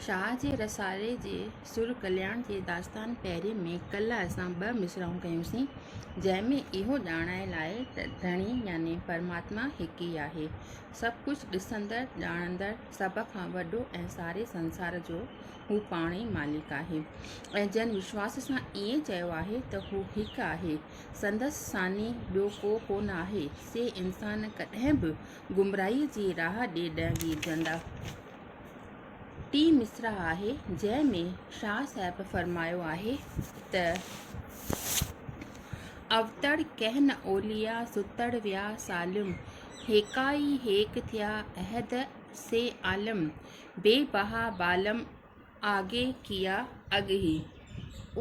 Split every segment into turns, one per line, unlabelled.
شاهه جي رسالي جي سر ڪلياڻ جي داستان پهرين ۾ ڪلهه اسان ٻه مصرعون ڪيونسين، جنهن ۾ اهو ڄاڻايل آهي ته ڌڻي يعني پرماتما هڪ ئي آهي، سڀ ڪجهه ڏسندڙ، ڄاڻندڙ، سڀ کان وڏو ۽ ساري سنسار جو هو پاڻ ئي مالڪ آهي ۽ جن وشواس سان ائين چيو آهي ته هو هڪ آهي، سندس ثاني ٻيو ڪو ڪونه آهي، سي انسان ڪڏهن به گمراهيء جي راهه ڏي نه ويجهندا. ٽي مصرع آهي جنهن ۾ شاهه صاحب فرمايو آهي ته. اوتڙ ڪهن اوليا ستڙ ويا سالم. هيڪا ئي هيڪ ٿيا احد سي عالم. بي بها بالم. آگي ڪيا اڳ هي.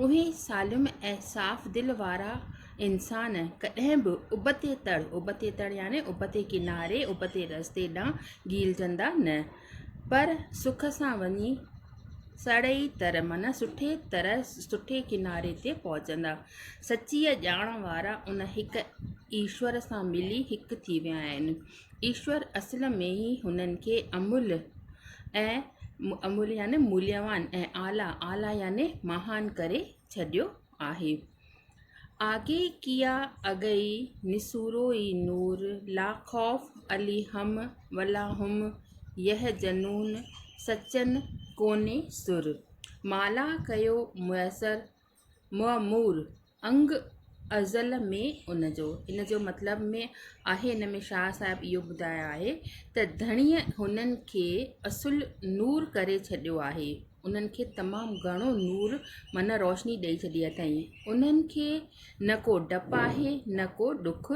اهي سالم ۽ صاف دل وارا انسان ڪڏهن به ابتي تڙ، ابتي تڙ يعني ابتي ڪناري، ابتي رستي ڏانهن گهيلجندا نه، پر سک سان وڃي سڙئي تر معنيٰ سٺي طرح، سٺي ڪناري تي پهچندا. سچيء ڄاڻ وارا ان هڪ ايشور سان ملي هڪ ٿي ويا آهن. ايشور اصل ۾ ئي هنن کي املهه ۽ املهه يعني موليوان ۽ اعليٰ اعليٰ يعني مهان ڪري ڇڏيو آهي. آگي ڪيا اگئي نسورو ئي نور لا خوف عليهم ولا هم يحزنون سچن ڪوني سر مالا ڪيو ميسر معمول انگ ازل ۾ ان جو. ان جو مطلب ۾ آهي ان ۾ شاهه صاحب اهو ٻڌايو آهي ته ڌڻيء هنن کي اصل نور ڪري ڇڏيو آهي انهن کي تمام گهڻو نور معنيٰ روشني ڏئي ڇڏي اٿئين انهن کي نه ڪو ڊپ آهي نه ڪو ڏک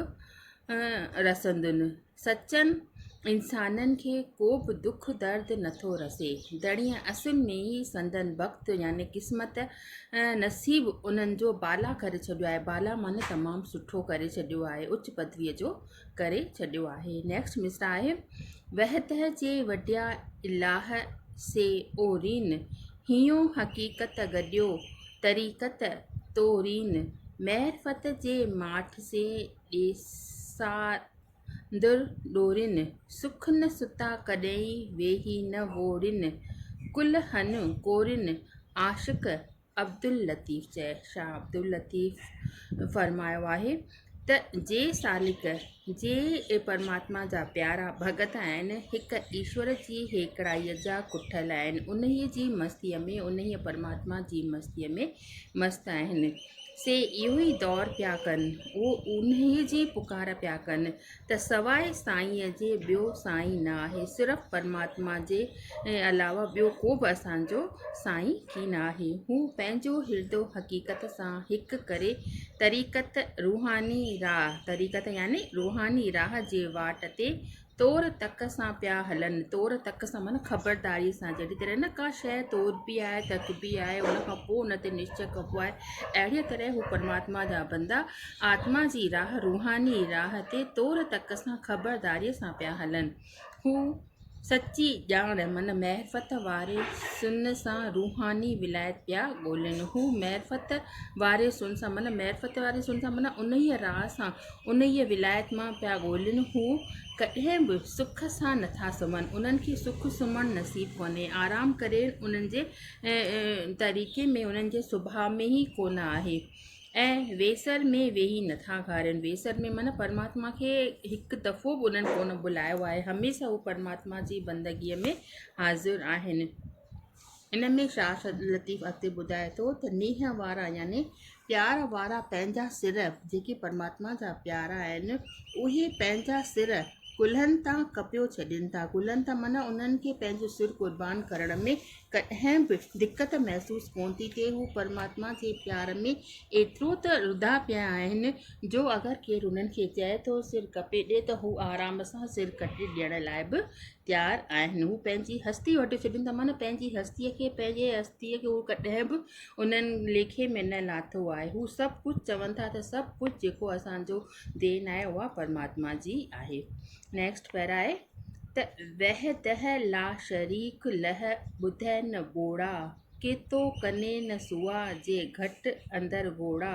رسندن سچن انسانن کي ڪو به دک درد نه ٿو رسي. دڙي ۽ اسين ۾ ئي سندن بخت يعني قسمت ۽ نصيب انهن جو بالا ڪري ڇڏيو آهي. بالا معني تمام سٺو ڪري ڇڏيو آهي، اچ پدويء جو ڪري ڇڏيو آهي. Next مصرع آهي. وهه ته جي وڍيا الاهه سي او رين، هينئون حقيقت گڏيو طريقت تو رين، معرفت جي ماٺ سي ڏيسارين. در ڏورين، سک نه ستا ڪڏهين ويهي نه وورين، ڪل هن ڪورين، عاشق عبداللطيف چئي، شاهه عبداللطيف فرمايو آهي ته جي سالڪ، جي پرماتما جا پيارا ڀڳت آهن، هڪ ايشور جي هيڪڙائيء جا ڪٺل آهن، انهيء جي مستيء ۾، انهيء پرماتما جي مستيء ۾، مست آهن. سي اهو ئي دور پيا ڪن، اهو اونهي جي پڪار پيا ڪن ته سواء سائينء جي ٻيو سائين نه آهي، صرف پرماتما جي علاوه ٻيو ڪو به اسان جو سائين ڪي نه آهي. هو پنهنجو هردو حقيقت سان هڪ ڪري طريقت، روحاني راهه، طريقت يعني روحاني راهه جي واٽ تي تور تڪ سان پيا هلن تور تڪ سان معنيٰ خبرداري سان جهڙي طرح نه ڪا شيء توربي آهي تڪبي آهي ان کان پوء ان تي نشچ ڪبو آهي اهڙيء طرح هو پرماتما جا بندا آتما جي راهه روحاني راهه تي تور تڪ سان خبرداريء سان پيا هلن هو سچي ڄاڻ معنيٰ معرفت واري سن سان روحاني ولايت پيا ڳولين هو معرفت واري سن سان معنيٰ معرفت واري سن سان معنيٰ انهيء راهه سان انهيء ولايت مان پيا ڳولين، هو ڪڏهن به سک سان نٿا سمهن، انهن کي سک سمهڻ نصيب ڪونهي، آرام ڪري انهن جي طريقي ۾ انهن جي سڀاء ۾ ئي ڪونه آهي ۽ ويسر ۾ ويهي نٿا گهارين، ويسر ۾ معنيٰ پرماتما کي هڪ دفعو به انهن ڪونه بلايو آهي، هميشه هو پرماتما جي بندگيء ۾ حاضر آهن. ان ۾ شاهه سعد لطيف اڳتي ٻڌائي ٿو ته نيهه وارا يعني پيار وارا پنهنجا سر جيڪي پرماتما جا پيارا آهن اهي پنهنجا سر ڪلهن تان ڪپيو ڇڏين ٿا ڪلهن تان معنيٰ انهن کي پنهنجو سر قربان ڪرڻ ۾ ڪڏهن به دقت محسوس ڪونه ٿي ٿئي هو پرماتما جي پيار ۾ ايترو ته رڌا پيا آهن جو اگر ڪير انهن کي چئي ٿو سر ڪپي ڏي ته هو آرام سان سر ڪٽي ڏيڻ لاء به تيار آهن هو پنهنجي هستي وٽي ڇڏين ٿا معنيٰ پنهنجي هستي کي پنهنجي هستي کي هو ڪڏهن به انهن ليکي ۾ نه لاتو آهي هو سڀ ڪجهه چون ٿا ته سڀ ڪجهه جيڪو اسانجو دين آهي اها پرماتما جي آهي نيڪسٽ پيرا آهي ته وحده لا شريڪ لح ٻڌئي نه ٻوڙا ڪيتو ڪنين سوا جي گهٽ اندر گهوڙا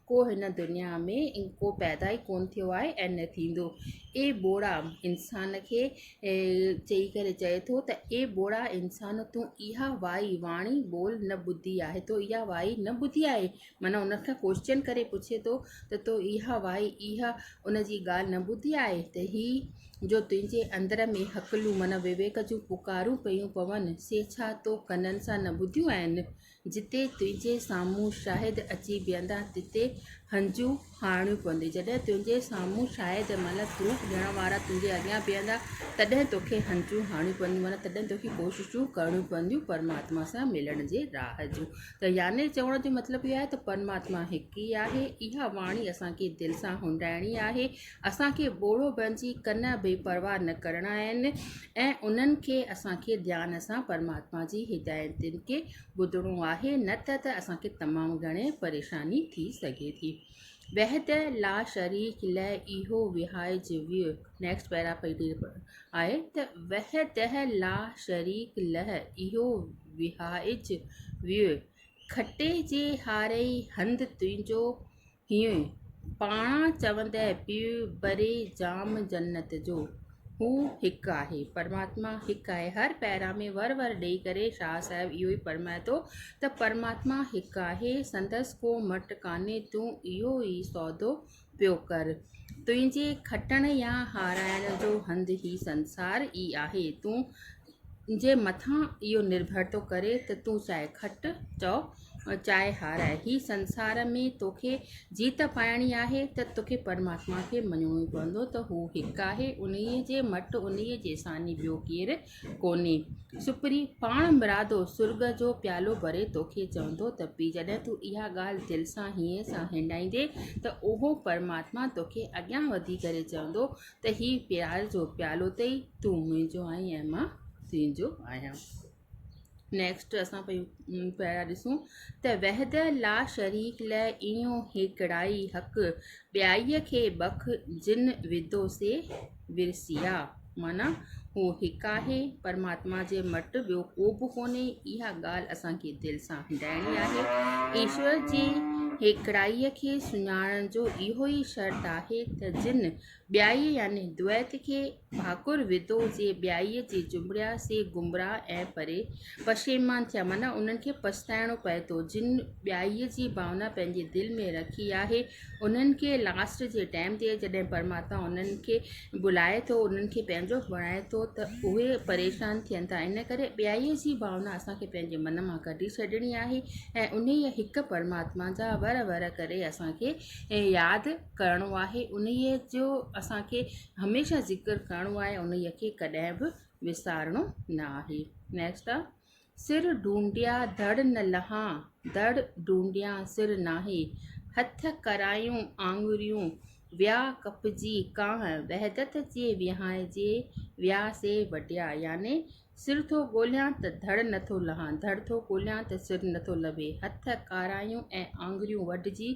ڪو هن دنيا ۾ ڪو پيدا ئي ڪونه ٿيو آهي ۽ نه ٿيندو. اي ٻوڙا! انسان کي چئي ڪري چئي ٿو ته، اي ٻوڙا انسان! تون اها وائي، واڻي، ٻول نه ٻڌي آهي. تو اها وائي نه ٻڌي آهي؟ معنيٰ ان کان ڪوئسچن ڪري پڇي ٿو ته تو اها وائي، اها ان جي ڳالهه نه ٻڌي آهي ته هي جو تنهنجي اندر ۾ هڪلون معنيٰ وويڪ جون پڪارون پيون پون سي ڇا تو ڪنن سان نه ٻڌيون آهن؟ جتي تنهنجي سامهون شاهد اچي بيهندا تتي هنجو هارڻيون پونديون. جڏهن تنهنجي سامهون شاهد معنيٰ پروف ڏيڻ وارا تنهنجي اڳيان بيهندا تڏهن توکي هنجون هارڻيون پونديون معنيٰ تڏهن توکي ڪوششون ڪرڻيون پونديون پرماتما سان ملڻ جي راهه جون ته يعني چوڻ جو مطلب اهو آهي ته پرماتما هڪ ئي آهي اها واڻي اسان کي دل سان هنڊائڻي آهي اسان کي ٻوڙو بڻجي ڪن بي پرواهه نه ڪرڻا آهن ۽ انهن کي اسان کي ڌيان سان پرماتما جي هدايتن کي ٻڌڻو آهي نه ته ته اسان کي تمام گهڻي پريشاني ٿي سگهي ٿي. وحده لا شريڪ لئه اهو وهائج ويو نيڪسٽ پيرا پئي ڏي آهي ته وحده لا شريڪ لئه اهو وهائج ويو کٽي جي هارئي هنڌ تنهنجو ھيون، پاڻ چوندي پيو بري جام جنت جو، ھو ھڪ آھي، پرماتما ھڪ آھي، ھر پيرا ۾ ور ور ڏئي ڪري شاھ صاحب اھو ئي فرمائي ٿو ته پرماتما ھڪ آھي، سندس ڪو مٽ ڪانھي، تون اھو ئي سودو پيو ڪر، تنھنجي کٽڻ يا ھارائڻ جو ھنڌ ھي سنسار ئي آھي، تون تنهنجي مٿان اهو نرڀر ٿو ڪري ته تون چاهي کٽ چئو چاهي هاراء هي سنسار ۾ توکي جيت پائڻي آهي ته توکي پرماتما کي مڃڻو ئي پوندو ته هو هڪ آهي انهي جي مٽ انهي جي ساني ٻيو ڪير ڪونهي سپري پاڻ مرادو سرڳ جو پيالو ڀري توکي چوندو ته پي جڏهن تون اها ڳالهه دل سان هينئن سان هنڊائيندي ته اهو پرماتما توکي اڳيان وڌي ڪري چوندو ته هي پيار جو پيالو اٿئي تون منهنجو آهين ۽ مان تنهنجو آهيان نيڪسٽ اسان پيون پيارا ڏسون ته وحد لا شريڪ لئه ايون هيڪڙائي حق ٻيائي کي بک جن وڌو سي ورسيا معنيٰ هو هڪ آهي پرماتما جي مٽ ٻيو ڪو به ڪونهي اها ڳالهه اسان کي دل سان هنڊائڻي آهي ايشور جي هيڪڙائي کي سڃاڻڻ جو اهو ئي شرط آهي ته جن ٻيائي يعني دويت کي ڀاڪر وڌو سي ٻيائي جي جنبڙيا سي گمراهه ۽ پري پشيمان ٿيا معنيٰ انهن کي پڇتائڻو پئي ٿو جن ٻيائي جي ڀاونا پنهنجي دل ۾ رکي آهي انهن کي لاسٽ جي ٽائيم تي جڏهن پرماتما انهن کي بلائي ٿو انهن کي پنهنجو بڻائي ٿو ته اهي پريشان ٿين ٿا ان ڪري ٻيائي جي ڀاونا اسان کي پنهنجي من مان ڪڍي ڇڏڻي آهي ۽ انهيء هڪ پرماتما جا ور ور ڪري اسان کي ياد ڪرڻو آهي انهيء جو اسانکي هميشه ذڪر ڪرڻو آهي انهيء کي ڪڏهن به وسارڻو نه آهي نيڪسٽ آهي سر ڊونڊيا دڙ نه لها دڙ ڊونڊيا سر ناهي هٿ ڪرايون آڱريون ويا ڪپجي ڪانه وحدت جي وهانئجي ويا سي وڍيا يعني سر ٿو ڳوليان ته ڌڙ نه ٿو لهان، ڌڙ ٿو ڳوليان ته سر نه ٿو لڀي، هٿ ڪارايون ۽ آڱريون وڍجي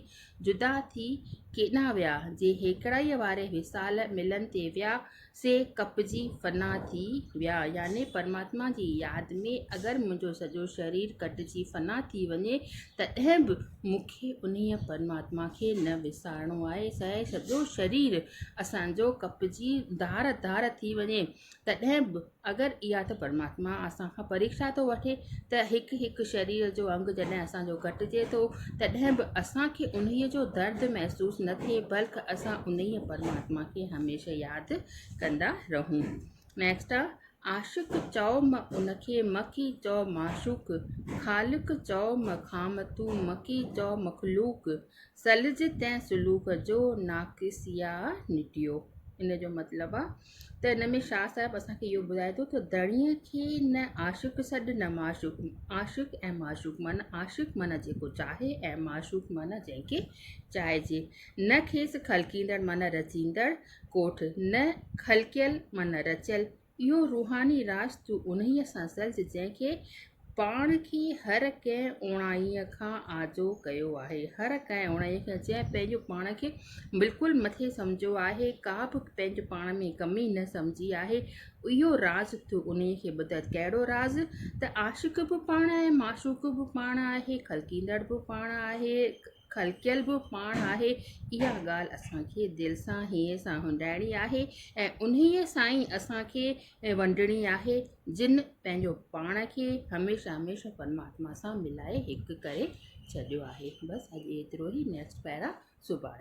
جدا ٿي ڪيڏانهن ويا، جي هيڪڙائيء واري وصال ملن تي ويا، سي ڪپجي فنا ٿي ويا، يعني پرماتما جي ياد ۾ اگر منهنجو سڄو شرير ڪٽجي فنا ٿي وڃي، تڏهن به مون کي انهيء پرماتما کي نه وسارڻو آهي، سهي سڄو شرير اسان جو ڪپجي ڌار ڌار ٿي وڃي، تڏهن به. اگر اها ته پرماتما اسان کان پريڪشا ٿو وٺي ته هڪ هڪ شرير جو انگ جڏهن اسان جو ڪٽجي ٿو تڏهن به اسان کي انهيء جو درد محسوس نه ٿئي بلڪ اسان انهيء پرماتما کي هميشه ياد ڪندا رهون نيڪسٽ آ عاشق چئو م ان کي مکي چئو معشوق خالق چئو م خام تون مکي چئو مخلوق سلج تنهن سلوڪ جو ناقص يا نٽيو ان جو مطلب آ ته ان ۾ شاهه صاحب اسان کي اهو ٻڌائي ٿو ته ڌڻيء کي نه عاشق سڏ نه معشوق عاشق ۽ معشوق معنيٰ عاشق معنيٰ جيڪو چاهي ۽ معشوق معنيٰ جنهن کي چاهجي نه کيس خلقيندڙ معنيٰ رچيندڙ ڪوٺ نه خلقيل معنيٰ رچيل اهو روحاني راز تون انهيء سان سلج جنهن کي پاڻ کي هر ڪنهن اوڻائي کان آجو ڪيو آهي هر ڪنهن اوڻائي کان جنهن پنهنجو پاڻ کي بلڪل مٿي سمجهيو آهي ڪا به پنهنجو پاڻ ۾ ڪمي نه سمجهي آهي اهو راز ٿيو ان کي ٻڌاء ڪهڙو راز ته عاشق به پاڻ آهي معشوق به پاڻ آهي خلقيندڙ به پاڻ آهي خلقيل به پاڻ آهي، اها ڳالهه اسان کي دل سان هينئن سان هنڊائڻي آهي ۽ انهيء سان ئي اسان کي ونڊڻي آهي، جن پنهنجو پاڻ کي هميشه هميشه پرماتما سان ملائي هڪ ڪري ڇڏيو آهي. بس اڄ ايترو ئي نيڪسٽ پيرا سڀاڻي.